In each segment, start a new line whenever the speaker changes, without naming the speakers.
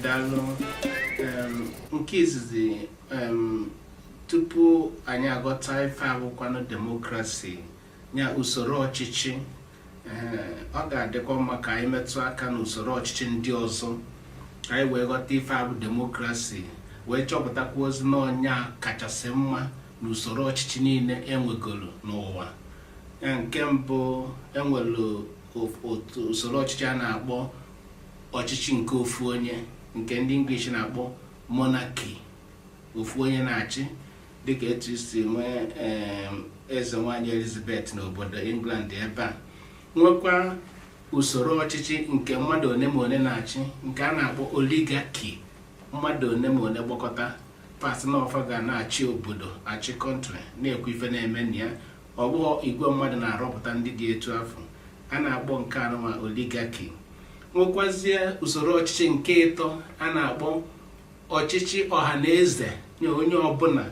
daalụ nke izizi tupu anyị aghọta ife abụkwanụ demokrasi nya usoro ọchịchị ọ ga-adịkwa mma ka anyị metụ aka n'usoro ọchịchị ndị ọzọ ka anyị wee ghọta ife abụ demokrasi wee chọpụtakwuazi na ọ nya kachasị mma n'usoro ọchịchị niile enwegoro n'ụwa nke mbụ enwere otu usoro ọchịchị a na-akpọ ọchịchị nke ofu onye nke ndị English na-akpọ monarchy ofu onye na-achị dịka etu e si nwee eze nwanyị Elizabeth n'obodo England ebe a nwekwa usoro ọchịchị nke mmadụ one ma one na-achị nke a na-akpọ oligarchy mmadụ one ma one gbakọta fa sị na ọ fa ga na-achị obodo achị country na-ekwu ife na-eme na ya ọ bụghị igwe mmadụ na-arọpụta ndị dị etu afụ a na-akpọ nke anụnwa oligarchy nwekwazie usoro ọchịchị nke ịtọ a na-akpọ ọchịchị ọha na eze nye onye ọbụla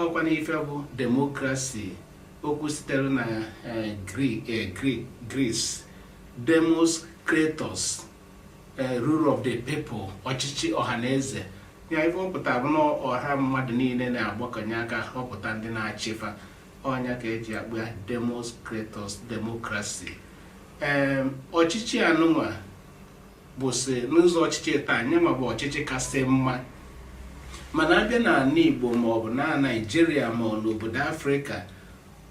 ọkwanụ ife bụ demokrasi okwu sitere na eh, eh, Greece demos kratos eh, rule of the people ọchịchị ọha na eze ya ife ọ pụtara bụ na ọha mmadụ niile na-agbakọnye aka họpụta ndị na-achịfa ọ nya ka eji akpọ ya demos kratos demokrasi ee ọchịchị anụnwa bụzị n'ụzọ ọchịchị taa nyanwa bụ ọchịchị kasị mma mana a bịa na ala igbo maọbụ na naijiria ma ọ n'obodo afrịka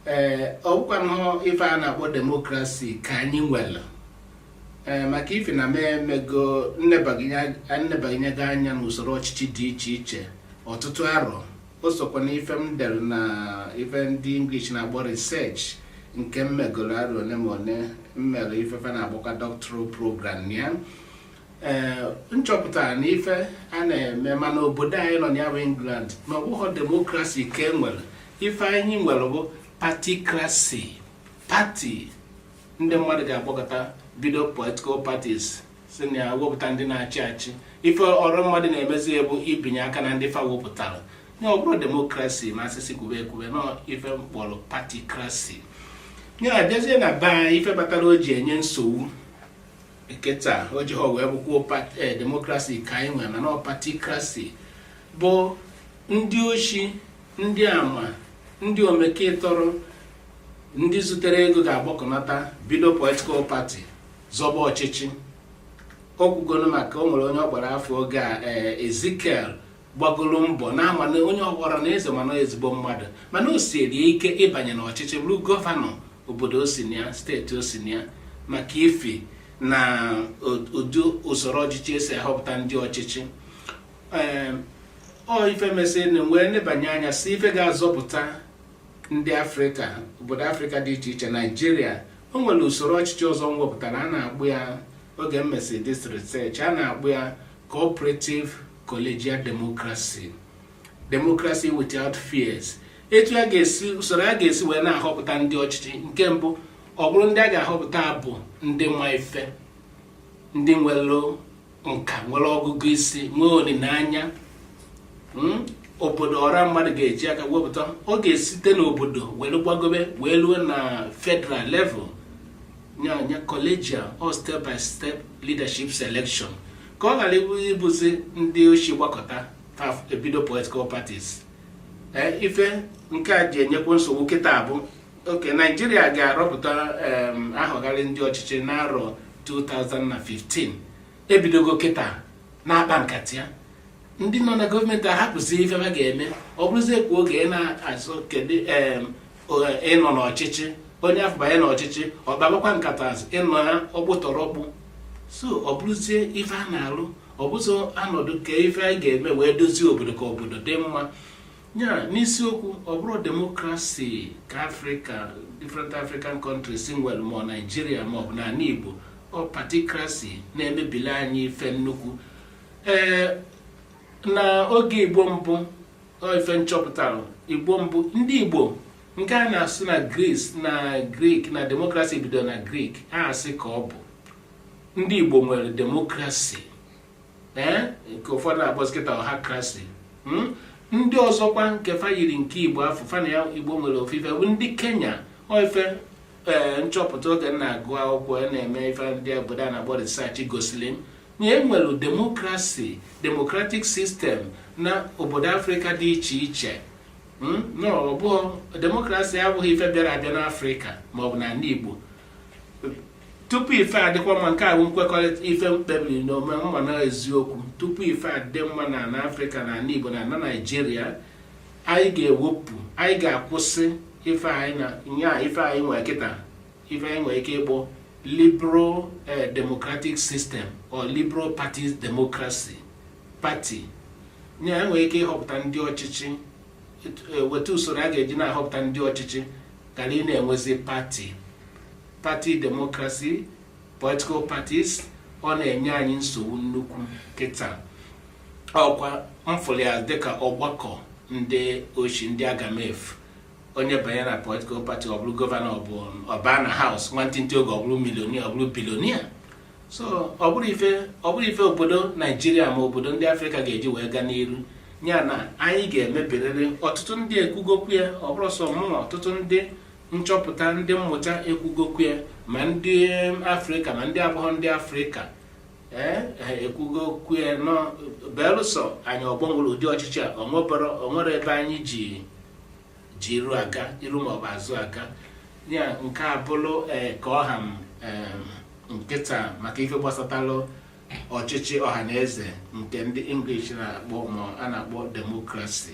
ee ọ bụkwanụ ife a na-akpọ demokrasi ka anyị nwere ee maka ife na m emego m nebanyego anya n'usoro ọchịchị dị iche iche ọtụtụ arọ o sokwa na ife m dere na ife ndị English na-akpọ research nke m megoro arọ one ma one m mere ife fa na-akpọkwa doctoral program ya ee eh, m chọpụta na ife a na-eme ma n'obodo anyị nọ ya bụ England na ọbụghọ demokrasi ka e nwere ife anyị nwere bụ patikrasi pati ndị mmadụ ga-agbakọta bido political parties si na ya wepụta ndị na-achị achị ife ọra mmadụ na-emezi ya bụ ibinye aka na ndị fa wepụtara nya ọ bụrụ demokrasi ma a sị sị kwube ekwube na ife m kpọrọ pati krasi nya a bịazie na be anyị ife batara o ji enye nsogbu eketa o ji ha wee bụkwuo eh, demokrasi ka anyị nwere mana pati krasi bụ ndị oshi ndị ama ndị omeketọrọ ndị zutere ego ga-agbakọnata bido political party zọba ọchịchị o kwugoro maka o nwere onye ọ gbara afọ oge a ee ezikiel gbagoro mbọ na-ama na onye ọghọrọ na eze mana ezigbo mmadụ mana o sieri ike ịbanye n'ọchịchị bụrụ gọvanọ obodo o si na ya steeti o si na ya maka ifi na ụdị usoro ọchịchị e si ahọpụta ndị ọchịchị ee ọ ife mesịrị m wee nebanye anya sị ife ga-azọpụta ndị afrịka obodo afrịka dị iche iche naijiria o nwere usoro ọchịchị ọzọ m wepụtara a na-akpọ ya oge m mesịrị this research a na-akpọ ya cooperative collegial democracy democracy without tears etu a ga-esi usoro a ga-esi wee na-ahọpụta ndị ọchịchị nke mbụ ọ bụrụ ndị a ga-ahọpụta bụ ndị ma ife ndị nwere nka nwere ọgụgụ isi nwee olileanya hmm? obodo ọra mmadụ ga-eji aka wepụta ọ ga-esite n'obodo were gbagobe wee ruo na federal level nyanya collegial or step by step leadership selection ka ọ ghara ịbụzi ndị oshi gbakọta e bido political parties eh, ife nke a ji enyekwa nsogbu kịta bụ okay naijiria ga-arọpụta ahọgharị ndị ọchịchị n'arọ 2015 ebidogo kịta na-akpa nkata ya ndị nọ na gọọmenti ahapụzi ife ha ga-eme ọ bụrụzie kwa oge ị na-azọ kedu ịnọ n'ọchịchị onye afụ banye n'ọchịchị ọ kpabakwa nkata azụ ịnọ ya ọkpụtọrọkpụ so ọ bụrụzie ife a na-alụ ọ bụzịrọ a nọdụ ka ife anyị ga-eme wee dozie obodo ka obodo dị mma ya n'isiokwu ọ bụrọ demokrasi ka afrịka different african countries nwere ma naijiria maọbụ n'ala igbo ọ patikrasi na-emebili anyị ife nnukwu ee na oge igbo mbụ ife m chọpụtara igbo mbụ ndị igbo nke a na-asị na gris na grik na demokrasi bido na grik a asị ka ọ bụ ndị igbo nwere demokrasi ee nke ụfọdụ na-akpọzi kịta ọhakrasi hmm? ndị ọzọkwa nke fa yiri nke igbo afụ fa na ya igbo nwere ofu ife bụ ndị kenya ọ ife ee eh, m chọpụta oge m na-agụ akwụkwọ na-eme ife ndị obodo a na-akpọ research gosiri m na e nwere demokrasi democratic system na obodo afrịka dị iche iche hmm? na ọ bụghị demokrasi abụghị ife bịara abịa n'afrịka maọbụ n'ala igbo tupu ife adịkwa mma nke a bụ nkwekọrịta ife m kpebiri n'onwe m ma na eziokwu tupu ife adị mma na na afrịka na ala igbo na na naijiria anyị ga-ewepụ anyị ga-akwụsị ife anyị na nya ife anyị nwere kịta ife anyị nwere ike ịkpọ liberal eh, democratic system or liberal party democracy party nya e nwere ike ịhọpụta ndị ọchịchị etu- eh, weta usoro a ga-eji na-ahọpụta ndị ọchịchị ghara ị na-enwezi party party democracy, Political Parties, ọ na-enye anyị nsogbu nnukwu kịta ọkwa m fụrụ ya dịka ọgbakọ ndị oshi ndị agamefu onye banye na political party ọ bụrụ gọvanọ ọ bụ ọ baa na house nwantịntị oge ọ bụrụ millionaire ọ bụrụ billionaire so ọ bụrọ ife ọ bụrọ ife obodo naijiria ma obodo ndị afrịka ga-eji wee gaa n'iru ya na anyị ga-emebirịrị ọtụtụ ndị ekwugo okwu ya ọ bụrọ sọ mụnwa ọtụtụ ndị nchọpụta ndị mmụta ekwugo okwu ya ma ndị afrịka ma ndị abụrọ ndị afrịka ee ha ekwugo okwu ya na belụsọ anyị ọ gbanwere ụdị ọchịchị a o nwebere o nwerọ ebe anyị ji ji iru aga iru maọbụ azụ aga ya nke a bụrụ ee ka ọ ha m ee, kịta maka ife gbasatalụ ọchịchị ọha na eze nke ndị english na-akpọ ma a na-akpọ democracy